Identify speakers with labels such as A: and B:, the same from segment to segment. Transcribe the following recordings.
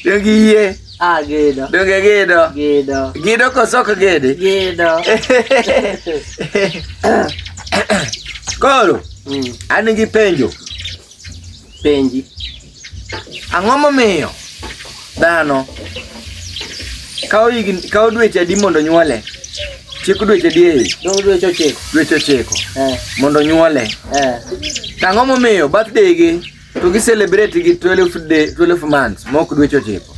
A: Donge yie? Ah, gedo.
B: Donge gedo?
A: Gedo. Gedo
B: koso ok
A: gede? Gedo. Koro, mm. an gi penjo.
B: Penji.
A: Ang'o momiyo dhano kawo higni kawo dweche adi mondo nyuole? Chik dweche adi e ich? Dong' dweche ochiko.
B: Dweche ochiko
A: Eh, mondo nyuole. eh. To ang'o momiyo birthday gi to gi celebrate gi 12 day 12 months mok dweche ochiko?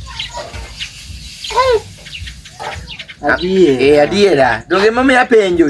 B: Adier. Eh adiera. Donge momiyo
A: apenjo?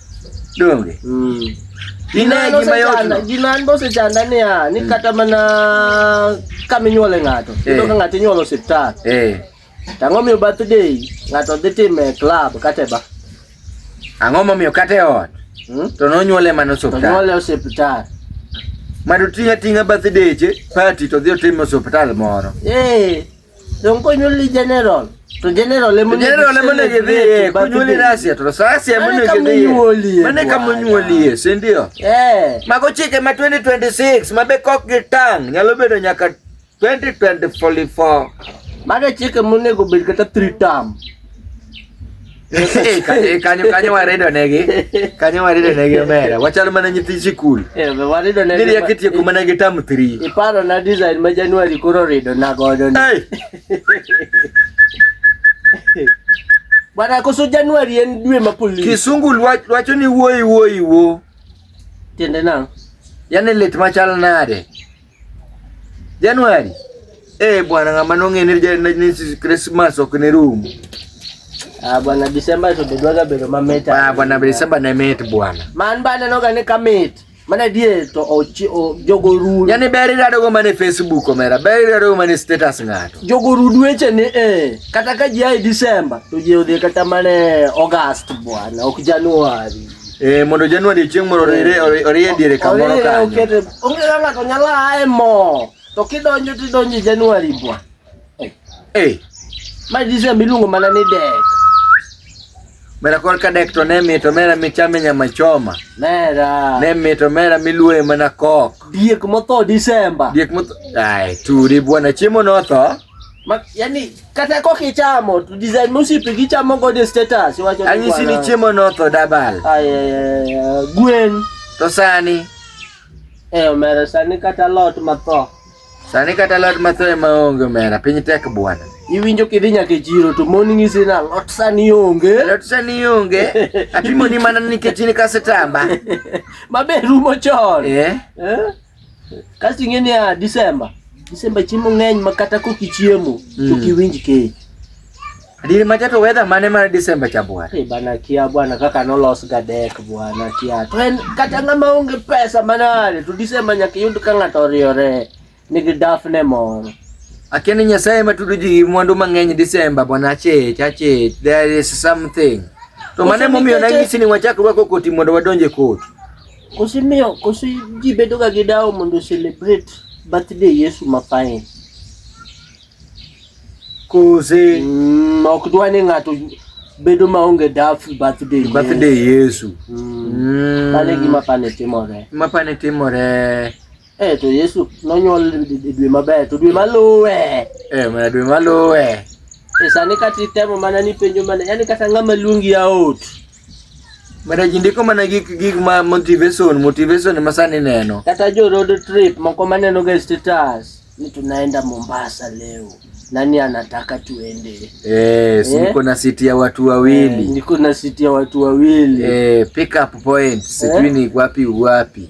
A: donge mm. Inaye gima yotno. Gima an bosechanda
B: niya, ni mm. kata mana kama inyuole ng'ato, eh. iyudo ka ng'ato inyuolo osiptal. Eh. Ang'o miyo birthday ng'ato dhi time e club kata e ba? Ang'o
A: momiyo kata e ot? Hmm? To nonyuole mana osiptal. Nonyuole osiptal.
B: Mado
A: ting'a ting'a birthday che party to dhi otime osiptal moro. Eh.
B: Don kunyuli general. To general emone general emone gidhi
A: kunyuli rasia to rasia emone gidhi. Mane kama onyuolie, si ndio? Eh. Mago chike ma 2026 mabe kok gi tang nyalo bedo nyaka 2024. Mago
B: chike monego bed kata 3 term.
A: kanyo kanyo warido negi kanyo warido negi omera wachal mana nyithi sikul warido negi niri
B: akitieko mana gi tam
A: 3 iparo na design ma
B: january koro rido na godo ni bwana koso january en dwe ma polisi kisungu wacho
A: ni wuoyi wuoyi wo
B: tiende na yani lit
A: machal nade Januari. Eh, bwana ngamba nong'ene ni Christmas ok ni room. Ah,
B: bwana December to bedwaga bedo mamit. Ah, bwana December ne
A: mit bwana. Man bana noga ni
B: kamit. Mana die to ochi o jogo ru. Yani beri rado go mane
A: Facebook omera, beri rado go mane status ng'ato. Jogo ru dweche ni
B: eh kata ka jai December to je odhi kata mane August bwana, ok January. Eh, mondo Januari
A: chieng' moro orire orie diere kamoro kanyo. Okete onge kaka ng'ato nyalo
B: aye mo. To kidonjo tidonjo Januari bwa. Eh. eh. Ma Disemba iluongo mana ni dek.
A: Mera kor ka dek to ne mito mera michame nyama choma. Mera. Ne
B: mito mera
A: miluoye mana kok. Diek motho
B: Disemba. Diek motho. Ai,
A: turi bwana chiemo notho. Ma, yani
B: kata kok ichamo to design mosipe gichamo godo e status iwacho ni Anyisi ni kwana. chiemo notho
A: dabal. Ay, ay, ay, ay,
B: gwen To
A: sani, e
B: omera sani kata lot matho sani kata
A: lot matho ema onge omera, piny tek bwana. iwinjo kidhi nyaka
B: e chiro to mon ng'isi ni alot sani onge Lot sani onge,
A: apimoni mana nikech in kasetamba. mabe
B: rumo chon Eh? Eh? Kasto ing'e ni a Disemba, Disemba chiemo ng'eny ma kata kokichiemo to Mm. kiwinj kech. Diri
A: macha to weather mane mar December cha bwana. Eh, bana kia bwana
B: kaka nolos gadek bwana kia to en kata ng'ama onge pesa manade to Disemba nyaka iyud ka ng'ato oriore nigi dafne moro. Akia ni Nyasaye
A: matudo ji gi mwandu mang'eny December bwana chich achich there is something. To mane Ose momiyo nikech- nanyisi ni wachak rwako koti mondo wadonje koti. Kosi miyo,
B: kosi ji bedoga gi dawo mondo o celebrate birthday Yesu mafain.
A: Kose Mm, ok
B: dwa ni ng'ato bedo maonge daf birthday birthday Yesu. Yesu.
A: Mm. Mm.
B: Mano e gima pane timore. Mapane timore. Eh to Yesu nonyuol e dwe maber to dwe maluwe. Eh mana dwe
A: maluwe. E sani kata
B: itemo mana ni penjo mana yani kata ng'ama luongi aot.
A: Mana ji ndiko mana gik gik ma motivation motivation ma sani neno. Kata jo road trip
B: moko maneno ga status ni tunaenda Mombasa leo nani anataka tuende? Eh, si eh?
A: na siti ya watu wawili. Eh, niko na siti ya watu wawili. Eh, pick up point. Eh? Sijui ni wapi wapi.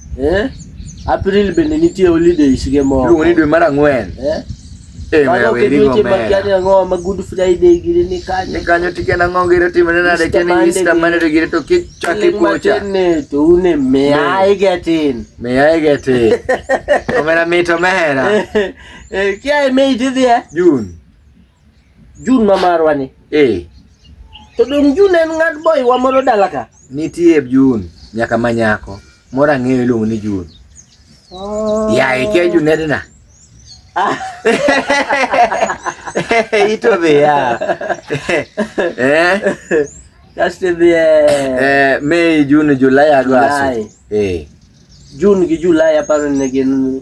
B: Eh? April bende nitie holidays ge moko. Luongo ni dwe mar ang'wen.
A: Eh? Eh,
B: mara weri go mera. Makiani ang'o ma Good Friday gire ni kanyo. Ni kanyo tike na
A: ng'o
B: gire
A: time na de keni Easter mane de gire to kik chaki kocha. Ne to une
B: me ai getin. Me ai getin.
A: Omera mito mera. Eh, kia
B: me idhi eh? June.
A: Jun ma marwa ni.
B: Eh. To dong Jun en ng'ad boy wa moro dala ka. Nitie Jun
A: nyaka manyako moro ang'eyo iluongo ni Jun. Oh. Ya ike e Jun edna. Ah. Ito be ya. Eh.
B: Kaste be. Eh, Mei, Jun,
A: Julai, Agosto. Eh.
B: Jun gi Julai aparo ne gin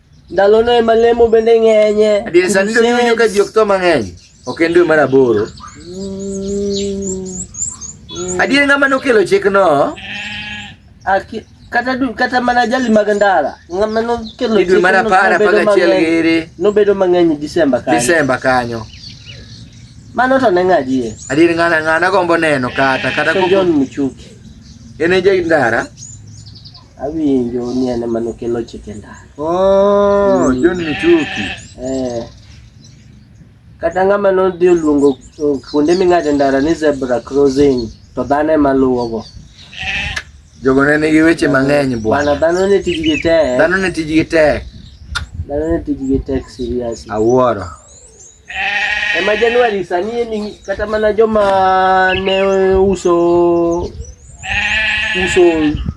B: Ndalono ema lemo bende ng'enye. Adier sani to niwinjo
A: ka ji ok tho mang'eny. Ok en dwe mar aboro. Adier ng'ama nokelo chikno? Aki kata du kata mana jali mag ndara
B: ng'ama nokelo dwe mar apar apar
A: gachiel giri nobedo mang'eny
B: Disemba kanyo. Disemba kanyo. Mano to ne ng'adie. Adier ng'ana ng'ana
A: gombo neno kata kata John Muchuki.
B: En e jai
A: ndara.
B: Awinjo ni en ema nokelo chike ndara. Oh, mm.
A: John Michuki. Eh.
B: Kata ng'ama nodhi oluongo kuonde ming'ade ndara ni zebra crossing to dhano ema luwogo.
A: Jogo ne nigi weche mang'eny bwana. Dhano ne tijgi tek.
B: Dhano ne tijgi tek. Dhano ne tijgi tek seriously. Awuoro. E ma Januari sani e ni kata mana joma ne uso uso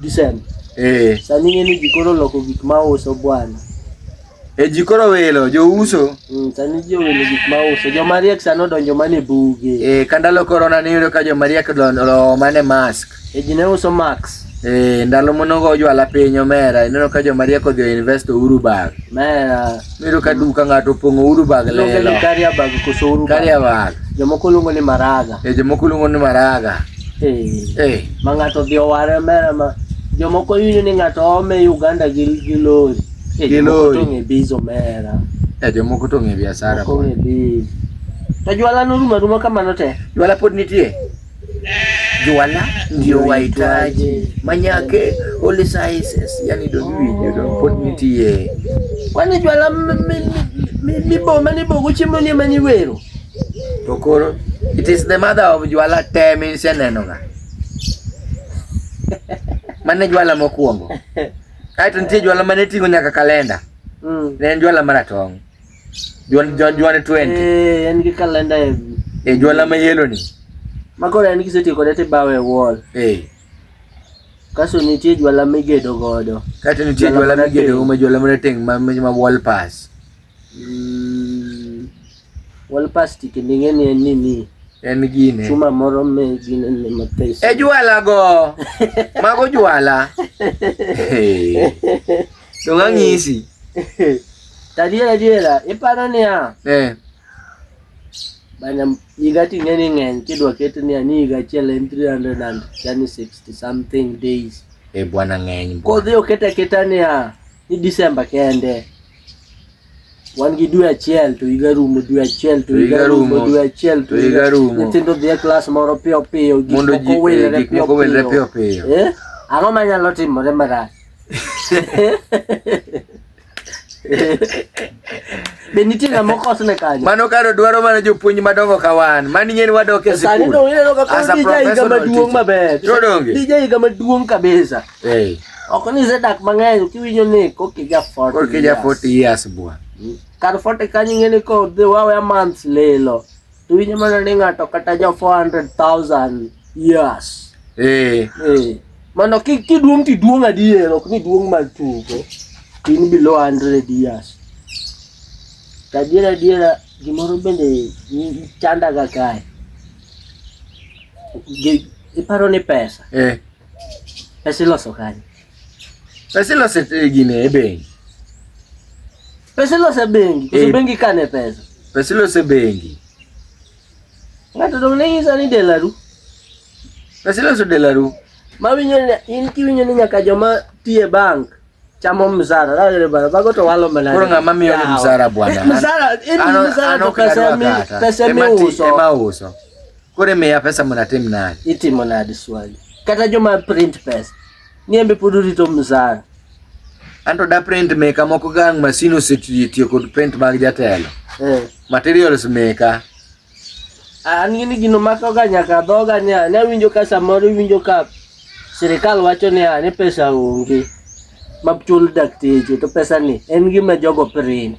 B: Disemba. Eh. Sani e ni jikoro loko gik ma uso bwana. E
A: jikoro welo jo uso. Mm, sani jo welo
B: gik ma uso. Jo mariek sano donjo mane buge. Eh, kandalo korona ne
A: yudo ka jo mariek donjo mane mask. E ji ne uso Max.
B: Eh, ndalo monogo
A: ojwala piny omera ineno ka joma rieko odhi invest uru bag mera miro
B: ka duka
A: ng'ato opong'o uru bag lelo karia bag koso
B: uru karia bag jomoko
A: luongo ni
B: maraga eh jomoko luongo ni maraga eh eh ma ng'ato odhi oware mera ma jomoko yini ni ng'ato ome Uganda gi gi lori eh jomoko to ng'e bizo mera eh jomoko to ng'e
A: biashara ko ng'e bizo
B: to jwala noruma ruma kamano te jwala pod nitie
A: Juala ndio wahitaji manyake all sizes, yani don't we don't put me tie kwani juala
B: miboma nibogo chiemo ni mani wero to koro
A: it is the mother of juala te min seneno nga mane juala mokuongo aito nitie juala mane tingo nyaka kalenda mm. ne en juala maratong' Juan Juan Juan 20. Eh, en gi kalenda
B: e. E juala ma
A: yelo ni. Ma koro en
B: kisetiyo kode ti bawe wall. Eh. Kaso nitie juala migedo godo. Kato nitie juala
A: migedo godo ma juala mane teng ma ma wall pass. Mm. Wall pass ti kendinge ni en nini? En gine. Chuma moro me
B: gine ni mapesa. E juala go.
A: Mago juala. Hey. Donga ngisi. Tadiera diera,
B: iparo niya. Eh. Bana higa ting'e ni ng'eny kidwa ket niya ni higa achiel en 360 something days. Eh bwana ng'eny.
A: Kodhi oketa keta
B: niya ni December kende. Wan gi dwe achiel to higa rumo, dwe achiel to higa rumo, dwe achiel to higa rumo. Nyithindo dhi e klas moro piyo piyo, gik moko eh,
A: wilre piyo piyo. Ang'o
B: manyalo timore marach? Be nitie ng'ama okosne kanyo? Mano karo dwaro mana
A: jopuonj madongo ka wan. Mani ng'eni wadok e Sani sikul. dong ineno ka As a koro DJ higa
B: professional maduong' teacher. maber. To donge? DJ higa maduong' kabisa. Eh, Ok ni isedak mang'eny kiwinjo ni koki ja 40 koro kija years. 40
A: years bwa. Kar 40
B: kanyo ing'eni ko the wawe a month lilo. Hindi nyo man nani nga to, kata nyo 400,000 years. Eh. Eh. Mano, ki, ki duong ti duong adier, ok ni duong mag tugo. Tin below 100 years. Tadiera diera, gimoro bende chanda ga kae. Iparo ni pesa. Eh. Pesa iloso kanye? Pesa
A: iloso e gine e bengi.
B: Pesa ilose bengi, koso eh. bengi kane pesa. Pesa ilose bengi. Ng'ato dong' ne nyisa ni delaru.
A: Pesa iloso delaru. Ma winyo
B: in kiwinyo ni nyaka joma tiye bank chamo msara dagere bana bago to walo mana koro ng'ama miyo ni msara
A: bwana eh, msara in
B: msara to pesa mi pesa mi uso ema uso kore miya pesa mnatim nade itimo nade swali kata joma print pesa Niembe pod orito msara. Anto
A: da print maker moko gang masin osetiyo kod print mag jatelo. Eh. Materials maker.
B: An gini gino mako ga nyaka dhoga ni ne winjo ka samoro winjo ka sirikal wacho ni ni pesa onge machul dakteche to pesa ni en gima jogo print.